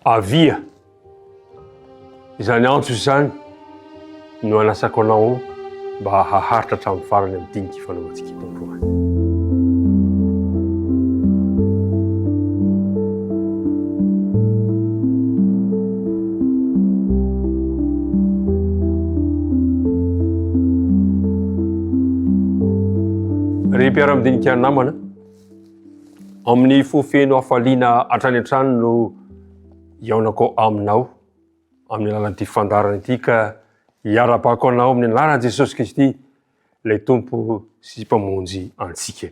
Avia! Izany antso izany no anasako anao mba haharitra hatramin'ny farany amin'ny dinika ifanaovantsika eto androany. Ry mpiara-midinika namana, Amin'ny fo feno hafaliana hatrany an-trano no hihaonako aminao amin'ny alalan'ity fandaharana ity ka hiara-bako anao amin'ny anaran'i Jesosy Kristy ilay Tompo sy Mpamonjy antsika.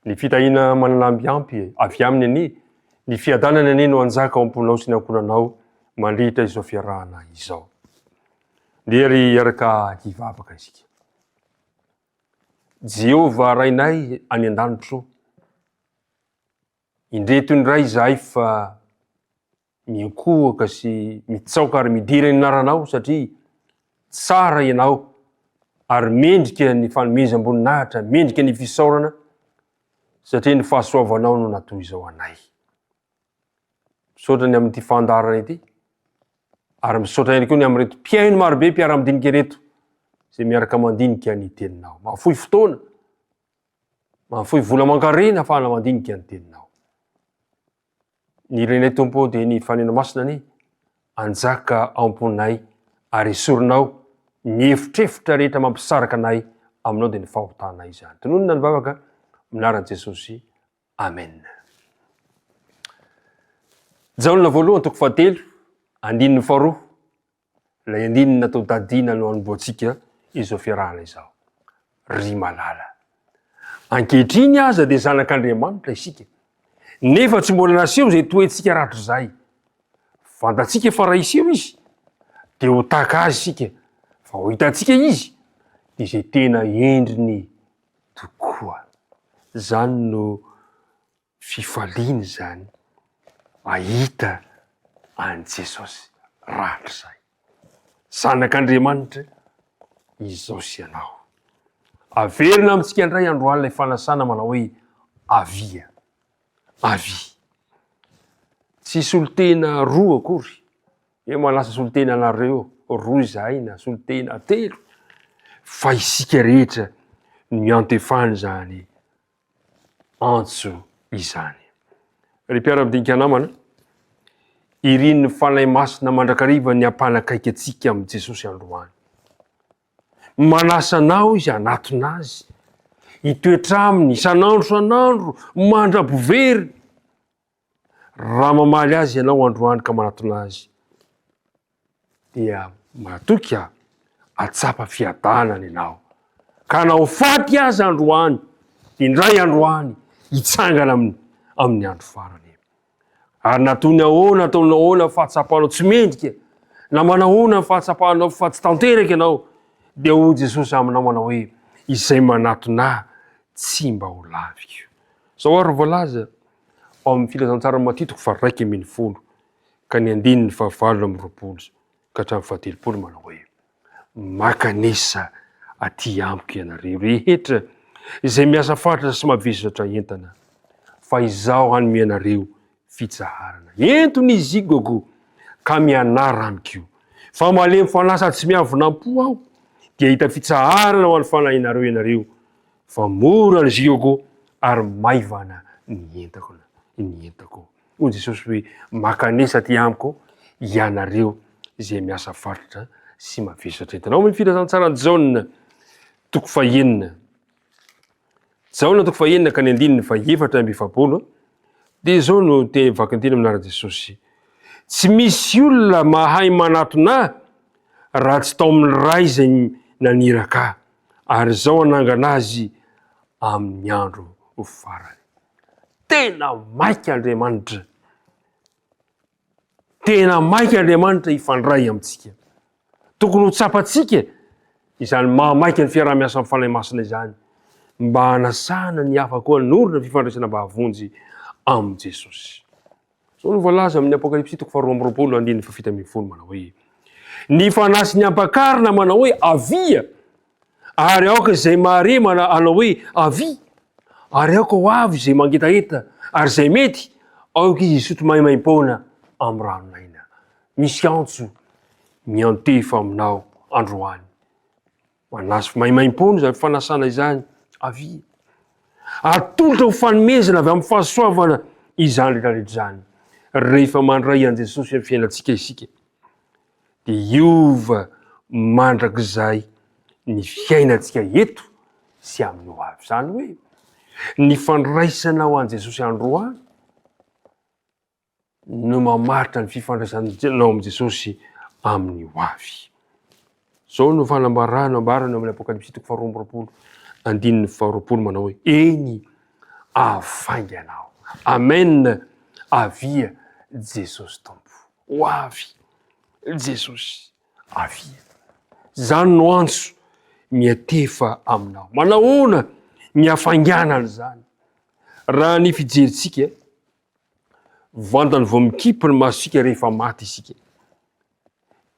Ny fitahiana manana mbiampy avy aminy anie, ny fiadanana anie no hanjaka ao am-ponao sy ny ankohonanao mandritra izao fiarahana izao. Ndeha ry hiaraka hivavaka isika. Jehovah Rainay any an-danitra ô, indreto indray izahay fa miankohoka sy mitsaoka ary midera ny anaranao satria tsara ianao ary mendrika ny fanomezam-boninahitra, mendrika ny fisaorana satria ny fahasoavanao no natoi-zao anay. Misaotra ny amin'ity fandaharana ity. Ary misaotra ihany koa ny amin'ireto mpihaino marobe mpiara-midinika ireto izay miaraka mandinika ny teninao. Mahafoy fotoana, mahafoy vola mankarena afahana mandinika ny teninao. Ny renay tompo dia ny fanena masina ny anjaka amponay ary esorinao ny efitrefitra rehetra mampisaraka anay aminao dia ny fahotanay izany. Tononina ny vavaka, minaran'i Jesosy. Amen. Jaona voalohany toko fahatelo, andininy faharoa, ilay andininy natao dadiana no anomboantsika izao fiarahana izao. Ry malala. Ankehitriny aza dia zanak'Andriamanitra isika. Nefa tsy mbola naseho izay toetsika ratr'izay. Fantatsika fa raha hiseho izy, dia ho tahaka azy isika, fa ho hitantsika izy, dia izay tena endriny tokoa. Izany no fifaliana izany mahita an'i Jesosy rahatrizay. Zanak'Andriamanitra izao sy ianao. Averina amintsika indray androany ilay fanasana manao hoe avia, avia. Tsy solontena roa akory Eo ma lasa solontena anareo roa izahay na solontena telo fa isika rehetra no iantefany izany antso izany. Ry mpiara-midinika namana, irin'ny Fanahy Masina mandrakariva ny hampanakaiky antsika amin'i Jesosy androany. Manasa anao izy hanatona azy, hitoetra aminy isan'andro isan'andro mandra-bovery. Raha mamaly azy ianao androany ka manatona azy, dia matoky aho hahatsapa fiadanana ianao. Ka na ho faty aza androany, dia indray andro any hitsangana amin'ny, amin'ny andro farany. Ary na toy ny ahoana, toy ny ahoana ny fahatsapanao tsy mendrika, na manahoana ny fahatsapanao fa tsy tanteraka ianao, dia hoy Jesosy aminao manao hoe, izay manatona ahy tsy mba ho laviko. Zao ary voalaza, ao amin'ny Filazantsara Matia toko faharaika ambin'ny folo ka ny andininy fahavalo amby roapolo ka hatramin'ny fahatelopolo manao hoe maka an'isa aty amiko ianareo rehetra izay miasa faritra sy mavesatra entana fa izaho hanome anareo fitsaharana entony izy igoko ka mianara amiko fa malemy fanahy sady tsy miavonam-po aho dia hita fitsaharana ho an'ny fanahinareo ianareo Fa mora ny ziogo ary maivana ny entako na ny entako. Hoy Jesosy hoe, Makanesa aty amiko ianareo izay miasa varotra sy mavesatra entana. Ao amin'ny Filazantsaran'i Jaona, toko fahenina. Jaona toko fahenina ka ny andininy fahefatra amby efapolo dia izao no teny vakinteny amin'arany Jesosy. Tsy misy olona mahay manatona ahy raha tsy tao amin'ny Ray izay naniraka ahy. Ary izao hanangana azy amin'ny andro farany. Tena maika Andriamanitra. Tena maika Andriamanitra hifandray amintsika. Tokony ho tsapantsika izany mahamaika ny fiaraha-miasa amin'ny Fanahy Masina izany mba hanasana ny hafa koa hanorina fifandraisana mahavonjy amin'i Jesosy. Izao no voalaza amin'ny Apokalypsy toko faharoa amby roapolo andininy fahafito ambin'ny folo manao hoe ny fanahy sy ny ampakarina manao hoe avia ary aoka izay mahare mana anao hoe avia ary aoka ho avy izay mangetaheta ary izay mety aoka izy hisotro maimaim-poana amin'ny ranon'aina misy antso miantefa aminao androany Manasy maimaimpoana izany fanasana izany avia. Atolotra ho fanomezana avy amin'ny fahasoavana izany rehetra rehetra izany. Rehefa mandray an'i Jesosy amin'ny fiainantsika isika, dia hiova mandrakizay ny fiainantsika eto sy amin'ny ho avy. Izany hoe, ny fandraisanao an'i Jesosy androany, no mamaritra ny fifandraisanao amin'i Jesosy amin'ny hoavy. Izao no fanambarana ambarany amin'ny Apokalypsy toko faharoa amby roapolo andininy faharoapolo manao hoe eny afaingana aho. Amen. Avia Jesosy Tompo. Ho avy Jesosy. Avia. Izany no antso miatefa aminao. Manahoana ny hafainganana izany? Raha ny fijerintsika Vantany vao mikipy ny masontsika rehefa maty isika.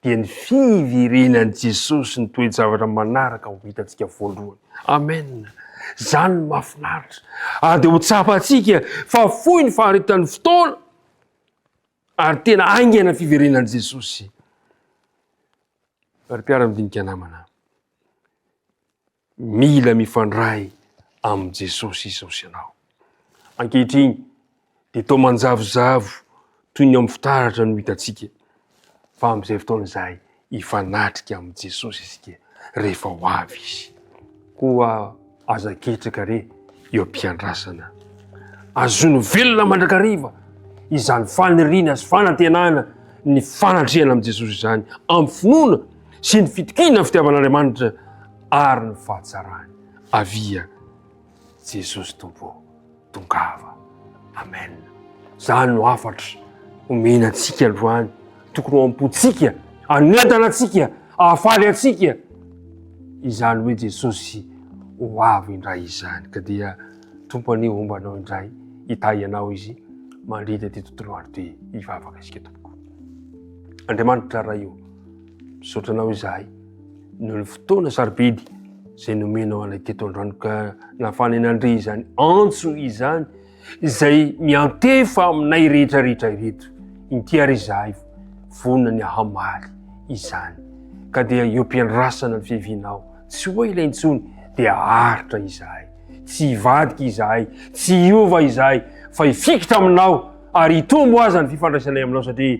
Dia ny fiverenan'i Jesosy sy ny toe-javatra manaraka ho hitantsika voalohany. Amen. Izany no mahafinaritra. Ary dia ho tsapantsika fa fohy ny faharitan'ny fotoana ary tena aingana ny fiverenan'i Jesosy. Ary mpiara-midinika namana. Mila mifandray amin'i Jesosy izao sy ianao. Ankehitriny dia toa manjavozavo toy ny ao amin'ny fitaratra no hitantsika, fa amin'izay fotoana izay hifanatrika amin'i Jesosy isika rehefa ho avy Izy. Koa aza ketraka re eo am-piandrasana. Azono velona mandrakariva izany faniriana sy fanantenana ny fanatrehana amin'i Jesosy izany amin'ny finoana sy ny fitokiana ny fitiavan'Andriamanitra ary ny fahatsarany. Avia Jesosy Tompo ô, tongava. Amen. Zany no hafatra omena antsika androany, tokony ho am-pontsika, anentana antsika, ahafaly antsika. Izany hoe Jesosy ho avy indray izany. Ka dia Tompo anie homba anao indray, hitahy anao izy mandritra ity tontolo andro ty. Hivavaka isika tompoko. Andriamanitra Ray ô. Misaotra anao izahay noho ny fotoana sarobidy izay nomenao anay teto an-drano ka nahafahanay nandre izany antso izany izay miantefa aminay rehetra rehetra ireto inty ary izahay vonona ny hamaly izany ka dia eo am-piandrasana ny fiavianao tsy ho ela intsony dia aritra izahay tsy hivadika izahay tsy hiova izahay fa hifikitra aminao ary hitombo aza ny fifandraisanay aminao satria